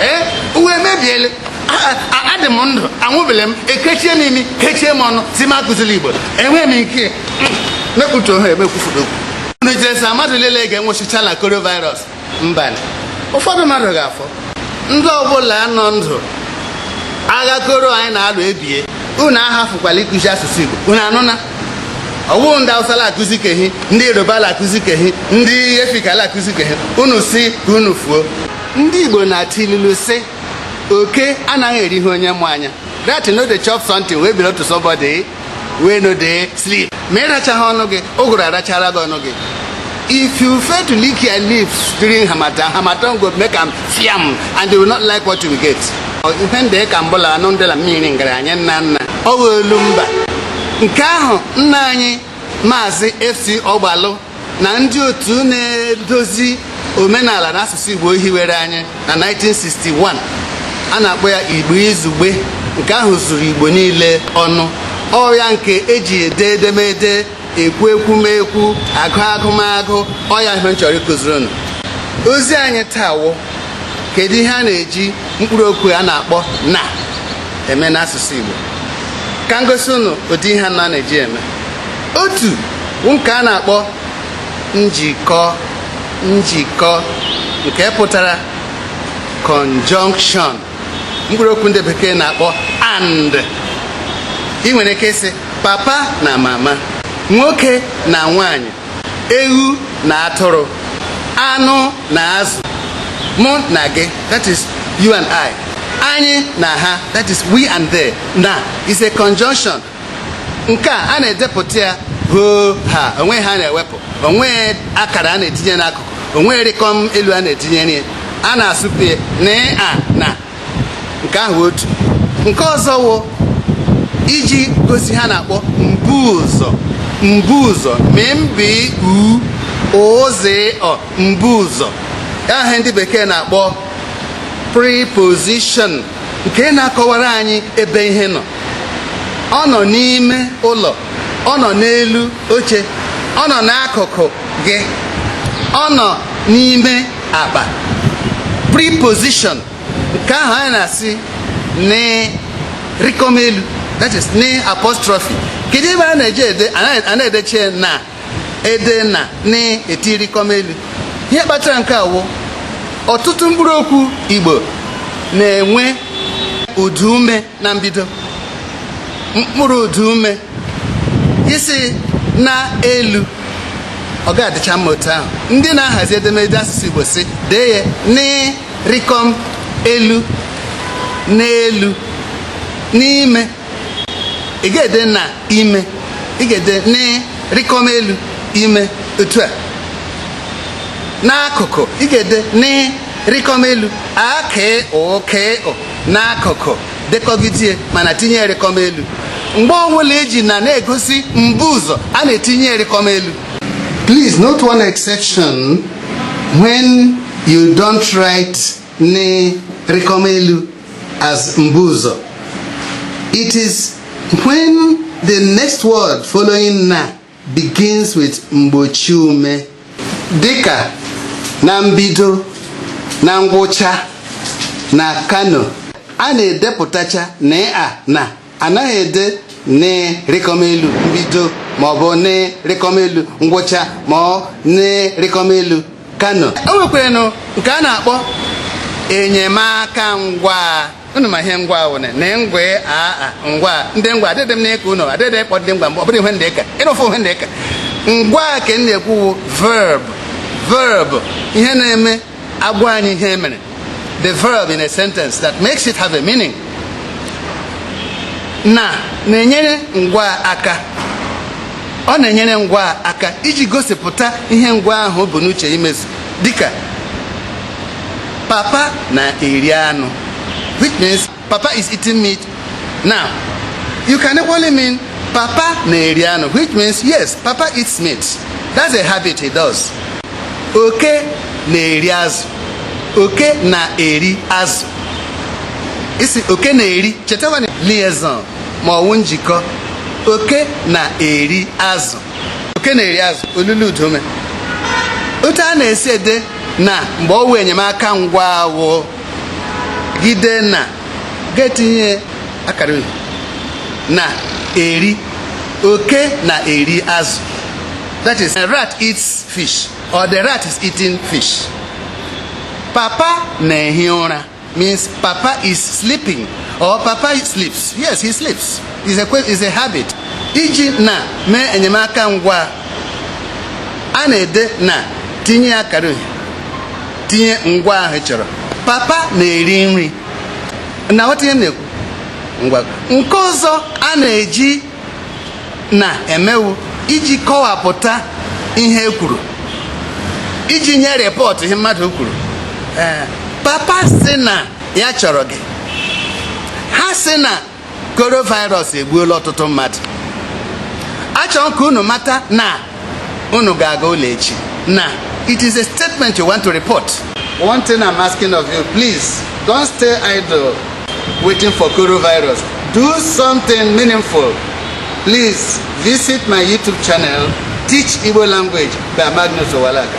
ee ụwa emebiele a dị m ndụ anwụbele m ekechie m imi kechie m ọnụ sị m akụzile igbo enweghị m nke mekputu ohe emekwufuru okwu unu chere sị mmadụ niile ga-anwụchichaa na coronavirus mba ụfọdụ mmadụ ga-afọ ndị ọbụla nọ ndụ agha koro anyị na-alụ ebie unu ahafụkwala ịkụzi asụsụ igbo unu anụna ọ wụ ndị awụsa la akụzi kehi ndị yoruba la akụzi kehi ndị efik la akụzi kehi unu sị ka unu fuo ndị Igbo na-atụ ilulu sị oke anaghị eri ihe onye mụ anya rat no dey chop something wey belong to somebody wey no dey sleep ma ị rachaghị ọnụ gị ụgụrụ arachara gị ọnụ gị if you fail to lick your lips during harmattan harmattan go lick am fiam and they will not like what you get ihe ndị ka mbụla anụ ndị la mmiri ngara anyị nna nna ọ ghọolu mba nke ahụ nna anyị maazị fc ọgbalụ na ndị otu na-edozi omenala na asụsụ Igbo hiwere anyị na 1961 a na-akpọ ya Igbo Izugbe nke ahụ zuru Igbo niile ọnụ ọ ya nke e ji ede edemede ekwu ekwumekwu agụ agụmagụ ọ ya ihe m chọrọ ịkụziri unu ozi anyị taa wụ kedu ihe a na-eji mkpụrụ okwu a na-akpọ na eme n'asụsụ Igbo ka m gosi unu ụdị ihe anọ a na-eji eme otu wụ nke a na-akpọ njikọ njikọ nke pụtara conjunction mkpụrụ okwu ndị bekee na-akpọ and ị nwere ike ịsị papa na mama nwoke na nwanyị ewu na atụrụ anụ na azụ mụ na gị that is you and I anyị na ha that is we and they na is a conjunction nke a a na-edepụta ya hoo haa o nweghị ihe a na-ewepụ o nweghị akara a na-etinye n'akụkụ o nweghị rịkọm elu a na-etinyere ya na-asụpe n a na nke ahụ otu nke ọzọ wụ iji gosi ihe a na-akpọ mbuụzọ mbuụzọ m b u ụ z ọ mbuụzọ ahụ ndị bekee na-akpọ preposition nke na-akọwara anyị ebe ihe nọ ọ nọ n'ime ụlọ ọ nọ n'elu oche ọ nọ n'akụkụ gị ọ nọ n'ime akpa preposition nke ahụ anyị na-asị n rịkọm elu that is n apostrophe kedu ihe mere a na-eji ede a na-edeche na ede na na-eti rikọm elu ihe kpatara nke a wụ ọtụtụ mkpụrụ okwu igbo na-enwe ụdaume na mbido mkpụrụ ụdaume isi na elu ọ ga-adịcha mma otu ahụ ndị na-ahazi edemede asụsụ igbo si dee ya n rikọm elu n'elu n'ime ị ga-ede na ime ị ga-ede n rikọm elu ime otu a n'akụkụ ị ga-ede n rikọm elu a k ụ k ụ n'akụkụ dekọgidie ma na-etinye rikọm elu mgbe ọbụla eji na na-egosi mbuụzọ a na-etinye rikọm elu please note one exception when you don't write n rikọm elu as mbuụzọ it is when the next word following na begins with mgbochiume dịka na mbido na ngwụcha na kano a na-edepụtacha na a na anaghị ede n rikọm elu mbido maọbụ n rikọm elu ngwụcha ma ọ n rikọm elu kano o nwekwaranụ nke a na-akpọ enyemaka ngwaa unu ma ihe ngwaa wụne na ngwa aa ngwa ndị ngwa adịdị m n'ịka unu adịdị ịkpọ ndị ngwa mgbe ọ bụrụ ihe ndị ka ịrụfụ ihe ndị ka ngwaa ka m na-ekwu verb verb ihe na-eme agwa anyị ihe mere the verb in a sentence that makes it have a meaning na na-enyere ngwaa aka ọ na-enyere ngwaa aka iji gosipụta ihe ngwaa ahụ bu n'uche imezu dịka papa na-eri anụ which means Papa is eating meat now. You can equally mean Papa na-eri anụ which means yes, Papa eats meat. That's a habit he does. Oke na-eri azụ. Oke na-eri azụ. Ị sị oke na-eri chetawa liaison ma ọwụ njikọ oke na-eri azụ oke na-eri azụ olilo ụdaume otu a na-esi ede na mgbe ọwụ enyemaka ngwaa wụ gị dee na ga-etinye akara uhie na-eri oke na-eri azụ that is rat eats fish or the rat is eating fish papa na-ehi ụra means papa is sleeping or papa sleeps yes he sleeps is a, is a habit iji na mee enyemaka ngwaa a na-ede na tinye akara uhie tinye ngwaa ahụ ị chọrọ papa na-eri nri na-aghọta ihe m na-ekwu ngwa nke ọzọ a na-eji na eme wụ iji kọwapụta ihe e kwuru iji nye rịpọtụ ihe mmadụ kwuru ee papa sị na ya chọrọ gị ha sị na coronavirus egbuola ọtụtụ mmadụ achọrọ ka unu mata na unu ga-aga ụlọ echi na it is a statement you want to report one thing i'm asking of you please don't stay idle waiting for coronavirus do something meaningful please visit my youtube channel teach igbo language by magnus owalaga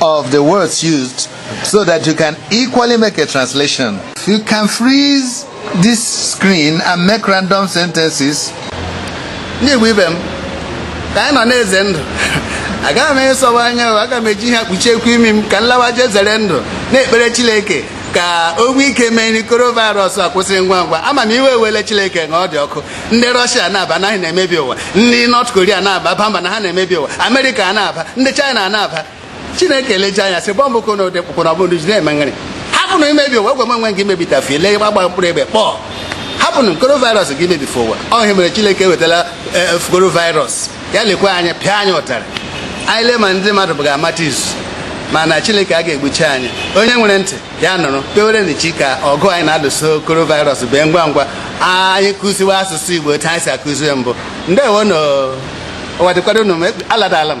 of the words used so that you can equally make a translation. You can freeze this screen and make random sentences. Ndị Igbo ibe m, ka anyị nọ na-eze ndụ, agaghị m ịsọwa anya aga m eji ihe kpuchiekwu imi m ka m lawa jee zere ndụ na-ekpere Chineke ka o nwee ike mee ọrịa coronavirus akwụsị ngwa ngwa a ma na iwe ewele Chineke na ọ dị ọkụ ndị rọshia na-aba na ha na-emebi ụwa ndị nọt koria na-aba aba mba na ha na-emebi ụwa amerịka na-aba ndị chaịna na-aba chineke leje anya sị bọmbụ ko na ụdị kpụkpụ na ọbụrụ ji na-eme nrị hapụnụ imebi ụwa egwe nwe gị mebitafie lee gbagba mkpụrụ egbe kpọọ hapụnụ coronavirus ga-emebi ụwa ọ ya mere chineke ewetala e, e, coronavirus ya lekwa anyị pịa anyị ụtarị anyị lee ma ndị mmadụ ga-amata izu mana chineke a ga-egbuchi anyị onye nwere ntị ya nụrụ kpewerenụ chi ka ọgụ anyị na-alụso coronavirus bee ngwa ngwa anyị kụziwe asụsụ igbo otu anyị si akụzie mbụ ndewonụ ụwa dịkwado unu mma alawala m